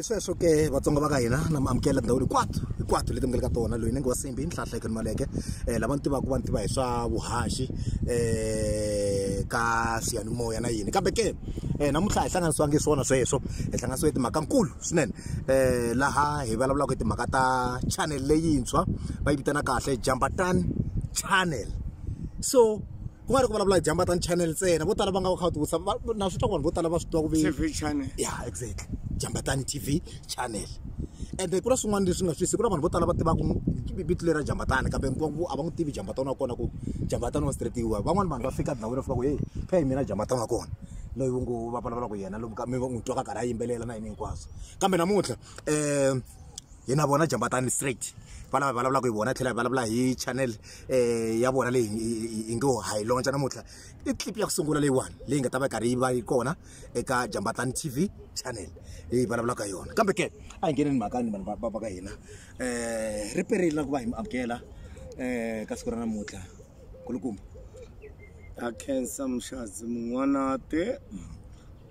hi sweswo ke vatsonga va ka hina na mi amukela tindhawu hinkwato hinkwato leti mi nga le ka tona loyi ni nge wa simbi nhlahla eka nimaleke um lava ni tivaka va ni tiva hi swa vuhaxi um ka siyanimoya na yini kambe ke um namuntlha hi hlanganisiwangi hi swona sweswo hi hlanganisiwe hi timhaka nkulu swinene um laha hi vulavulaka hi timhaka ta channel leyintshwa va yi vitana kahle jambatani channel so ku nga ri ku vulavula hi jamba tan channel ntsena vo tala va nga va kha va tivutisa na swi twa ku vanhu vo tala va swi twa ku tv channel ya exactly jamba tan tv channel ende ku na swin'wana leswi nga swisi ku na vanhu vo tala va tivaka vito leri ra jambatani kambe nkwavo a va n'wi tivi jambatani wa kona ku jambatani wa stretiwa van'wana vanhu va fika ndhawini va fika ku heyi phe hi mina jambatani wa kona loyi wu ngo va vulavulaka yena lomu ka mi n'wi twaka karhi a yimbelela na yini hinkwaswo kambe namuntlha um hi na vona jambatani straight va lava hi vulavulaka hi vona tlhela hi vulavula hi channel um ya vona leyi hi ngo ha yi lontsha namuntlha i clip ya ku sungula leyiwani leyi nga ta va yi karhi yi va yi kona eka jambatani t v channel leyi vulavulaka hi yona kambe ke a hi ngeneni mhakani vanhu va va ka hina um ri perile na ku va hi mi amukela um ka siku ra namuntlha kulukumba a khensa muxazi mun'wanate mm.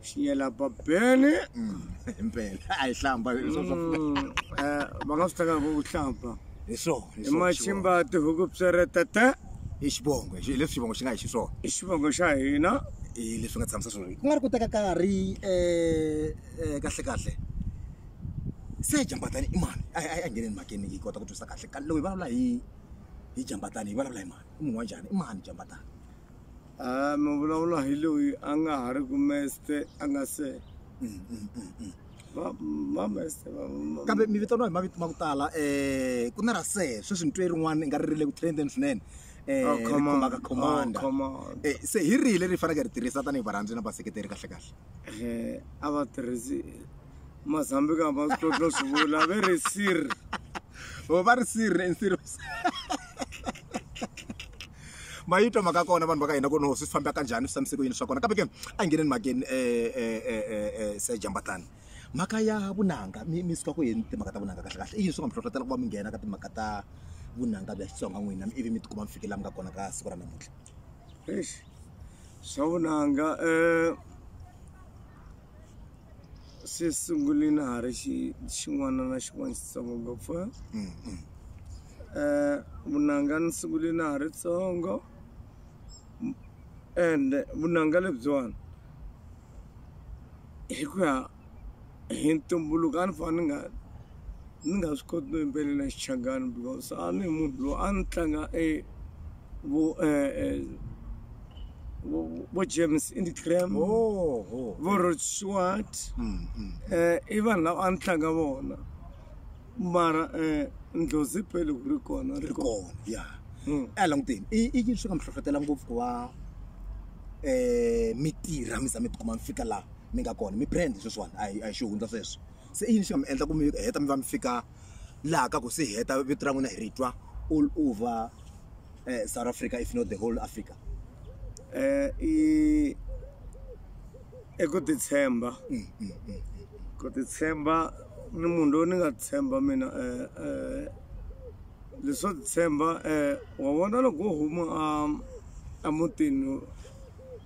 xinyela babeni mm, impela a yi hlamba mm, eh, va nga swi tekaka ku hlamba hi swona hi machimba tihuku pseretete i xivongo leswi xivongo xi nga hi xiswona i xivongo xa hina hi leswi nga tshamisa swona ku nga ri ku teka karhi um kahle kahle se jambatani i mani a a ngheneni makeni yi kota ku twisa kahle ka lowu hi vulavula hi hi jambatani hi vulavula hi mani i munhu wa njhani i mani jambatani a mi vulavula hi loyi a nga ha ri ku meste a nga se mameste kambe mi vitaniwa hi mavito ma ku tala um ku na ra se sweswi ni twe rin'wana i nga ri ri le ku trendeni swinene um khomaka commanda se hi rihi leri faneke ri tirhisa tanihi varhandzi na vaseketeri kahle kahle um a va tirhisi mazambika va swi totlo swi vula ve ri sir va ri sir nsir ma yi twa mhaka kona vanhu va ka hina ku no swi famba ka njhani swi fambise ku yini swa kona kambe ke a hi ngheneni mhakeni um se jambatlani mhaka ya vunanga mi mi suka ku yini timhaka ta vunanga kahle kahle i yini swi nga mi hlohlotela ku va mi nghena ka timhaka ta vunanga bya xitsonga n'wina ivi mi tikuma mi fike laha mi nga kona ka siku ra namuntlha swa vunanga um se sungulini ha ri xi xin'wana na xin'wana xitsongo ngopfu mm, mm. eh vunanga ni sungulini ha ri tsongo and vunanga lebyiwani hi ku ya hi ntumbuluko a ni fanele ni nga ni nga swi koti no yimbelela Xichangani because a ni munhu loyi a ni tlanga e vo e, e, vo James Indigram vo Rod Stewart mm, mm. Eh, i vanhu lava a ni tlanga vona mara eh, ndlozi pele ku ri kona ri kona ya hmm. a eh, languteni i i yini swi nga mi hlohlotela ngopfu ku va eh mi tirha mi za mi tikuma mi fika laha mi nga kona mi brand sweswiwani a hi a hi xi hundza sweswo se i yini xi nga mi endla ku mi heta mi va mi fika laha ka ku se heta vito ra n'wina hi ri twa all over um south africa if not the whole africa um i i ku titshemba mm, mm, mm, ku titshemba ni munhu loyi ni nga tshemba mina um um leswo titshemba um wa vona loko wo huma a emutini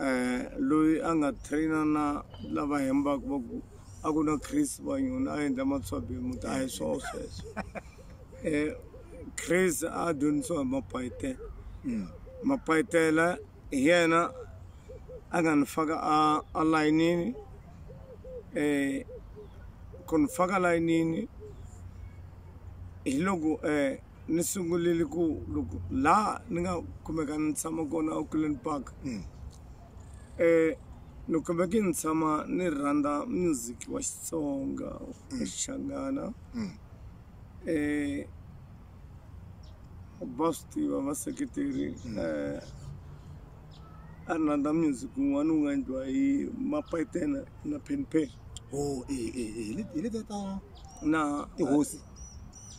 eh loyi a nga trainer na lava hembaka va ku a ku na chris vanyoni a endla matswabi muti a hi swona sweswo um chris a dyondzisiwa hi mapayitela mm. mapayitela hi yena a nga ni faka a a layinini um ku ni faka layinini hi loko um ni sungulile ku loko laha ni nga kumeka ni tshama kona auckland park um ni kumeke ni tshama ni rhandza music wa xitsonga wa xichangana um va swi tiva vaseketeri um a ni rhandza music wun'wana wu nga endliwa hi mapayitena na penpen o hi letiya ta na tihosi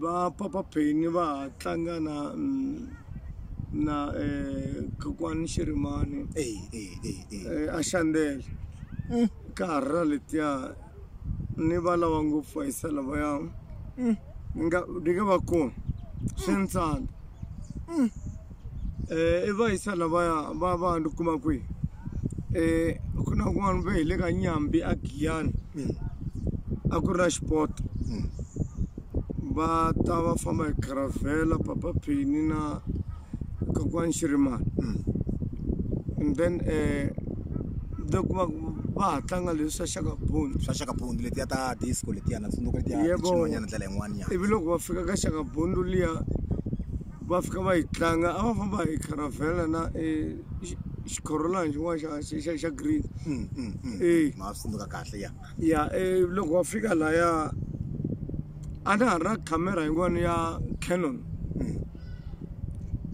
va papa Penny va ha tlanga na na eh kokwani Xirimani eh eh eh eh a xandele mm. ka ha ra letiya ni va lava ngopfu va yisa lavaya mm. ni nga ni nga va kona swi ni tsandza mm. eh, i va yisana va ya va va ni kuma kwihi eh, ku na kun'wana ve hi le ka nyambi a giyani mm. a ku ri na xipoto mm. va ta va famba hi caravela papa phini na kokwani xirimani mm. and then eh, le ku va va ha tlanga leswi swa xakabundu swa xakabundu letiya ta disco letiya na tsundzuka letiya tin'wanyana ndlela yin'wana ya ivi loko va fika ka xakabundu liya va fika va yi tlanga a va famba hi caravela na e xi- xikhorolani xin'wana xa xa- xa xa green Mm, mm, mm. Eh. ma swi tsundzuka kahle ya ya eh, loko va fika laya a na ha ri na camera yin'wana ya canon Mm.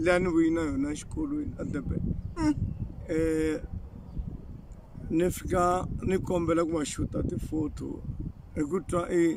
leyi a ni vuyi na yona exikolweni edurban um ni fika ni kombela ku va xuta ti-photo hi ku twa i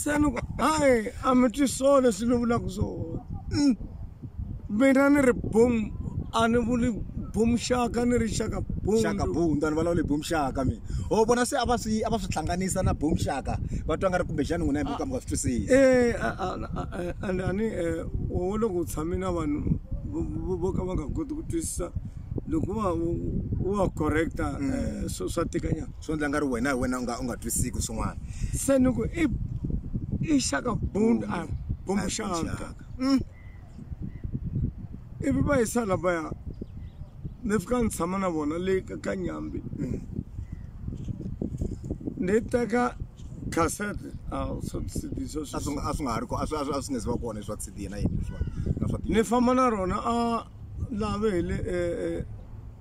se ni ku hayi a mi twi swo leswi ni vulaka swona mm. mina ni ri boom a ni vuli boom xaka ni ri xaka boomxaka boom ni vulavuli boom xaka mina ho vona se a va swi a va swi hlanganisa na boom xaka va twa nga ri kumbexani n'wina hi muka mi nga swi twisisi e and ani wo loko u tshame na vanhu vo ka va nga koti ku twisisa loko wa wa correcta mm. eh, swa tikanyana swo ndla nga ri wena hi wena u nga u nga twisiki swin'wana se ni ku i i shaka bund a bumbu shaka mm. ivi va yisa lavaya ni fika ni tshama na vona le ka nyambi mm. ni teka cassette a swi nga ha ri a swi nge se va kona swa cd na yini ni famba na rona a lave hi le eh, eh,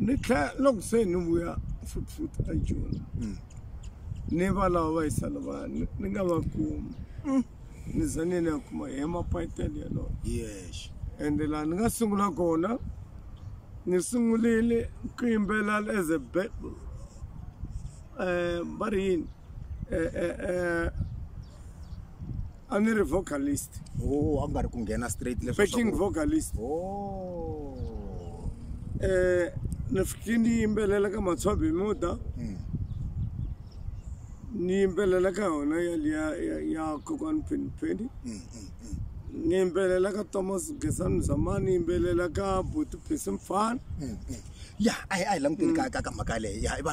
ni tlhela loko se ni vuya futhi a joni hmm. ni va lava va yisana va ni nga va kumi hmm. ni za ni ni ya kuma hi mapayitele yalowo yes ende laha ni nga sungula kona ni sungulile ku yimbela as a bible um va ri yini eh, eh, eh, a ni ri vocalist oh a ku nga ri ku nghena straight leswi backing vocalist oh eh ni fike ni yimbelela ka matshobe muda hmm. ni yimbelela ka yona ya ya ya kokwan pen pen hmm, hmm, ni yimbelela ka Thomas Gesani Zamani ni yimbelela ka Buti Phesi Mfana ya a hi a hi languteni ka ka mhaka leyi ya i va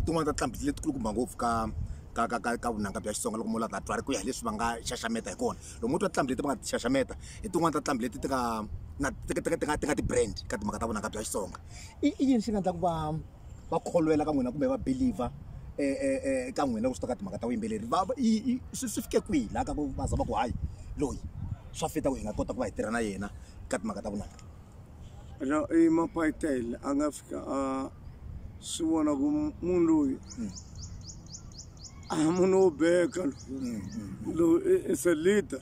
tin'wana ta tlambi letikulu kumba ngopfu ka ka ka ka ka vunanga bya xitsonga loko mula vatswari ku ya hi leswi va nga xaxameta hi kona loko mo twa tinqambi leti va nga ti xaxameta hi tin'wani ta tinqambi leti ti nga na ti ti ti nga ti nga ti-brand ka timhaka ta vunanga bya xitsonga i i yini xi nga endlaku va va kholwela ka n'wina kumbe va believer eka n'wina loko swi ta ka timhaka ta vuyimbeleri va i i swi swi fike kwihi laha ka ku va za va ku hayi loyi swa fita ku hi nga kota ku va hi tirha na yena ka timhaka ta vunanga. ra- i mapayitele a nga fika a swi vona ku munhu loyi a munhu wo beka loyi loyi i- i se leader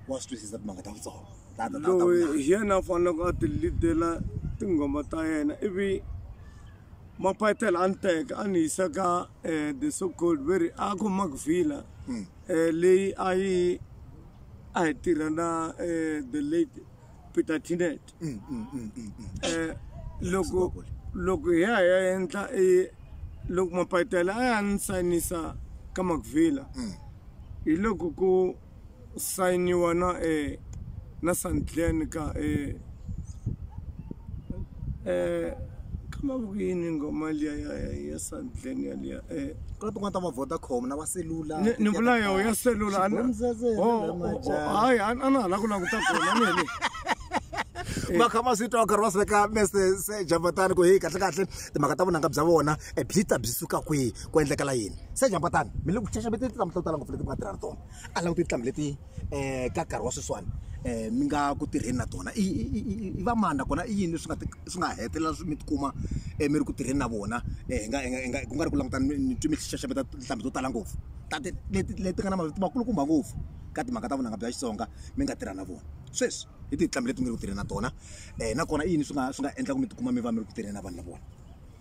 wa swi twisisa timhaka ta vutsongo Ta- ta- ta- ta- loyi hi yena a faneleke a ti leadela tinghoma ta yena ivi mapayitele a ni teka a ni yisa ka um the so called very a ku makvilla um leyi a yi a hi tirha na um the late Peter Tinet mm, mm, mm, mm, mm. eh loko loko hi ya ya endla e loko mapatela a ya ni sayinisa ka Macvilla mm. hi loko ku sayiniwa na e na Sandlen ka e eh kama ku yini ngoma liya ya ya Sandlen ya liya eh ku na tin'wana ta va vodacom na va selula ni vula yo ya selula hayi a na ha la ku languta kona ni heli va kha va swi twa karhi va swi veka mese jambatani ku heyi kahle kahle timhaka ta vunanga bya vona e byi ta byi suka kwihi ku endlekela yini se jambatani mi le ku xaxameteni tinhlamuhla to tala ngopfu leti mi nga tirha na tona a languti tinhlamu leti ka nkarhi wa sweswiwani mi nga ku tirheni na tona i i i i va mani nakona i yini leswi nga swi nga hetelela swi mi ti kuma mi ri ku tirheni na vona hi nga hi nga hi nga ku nga ri ku langutana ni ni twe mi xaxameta tinhlampfi to tala ngopfu ta ti leti leti nga na mavito makulukumba ngopfu ka timhaka ta vunanga bya Xitsonga mi nga tirha na vona sweswi hi tihi tinhlampfi leti mi nga le ku tirheni na tona nakona i yini swi nga swi nga endla ku mi ti kuma mi va mi ri ku tirheni na vanhu lavawani.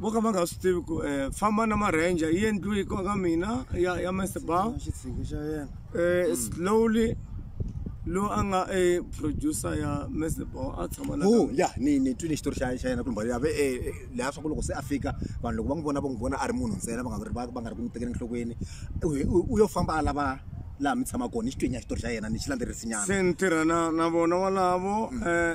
vo ka va nga swi tivi ku um famba na ma-ranger yi endliwe yi koka mina ya ya masebao um eh, slowly lowu a nga e producer ya masebao a tshama la oh, ya ni ni twile xitori xa xa yena kulumba yave e eh, laha swa ku loko se a fika vanhu loko va n'wi vona va n'wi vona a ri munhu ntsena va nga ri va nga ri ku n'wi tekela enhlokweni u yo famba a lava laha mi tshama kona ni xitwenya xitori xa yena ni xi landzelerisinyana se ni tirha na na vona walavo um mm. eh,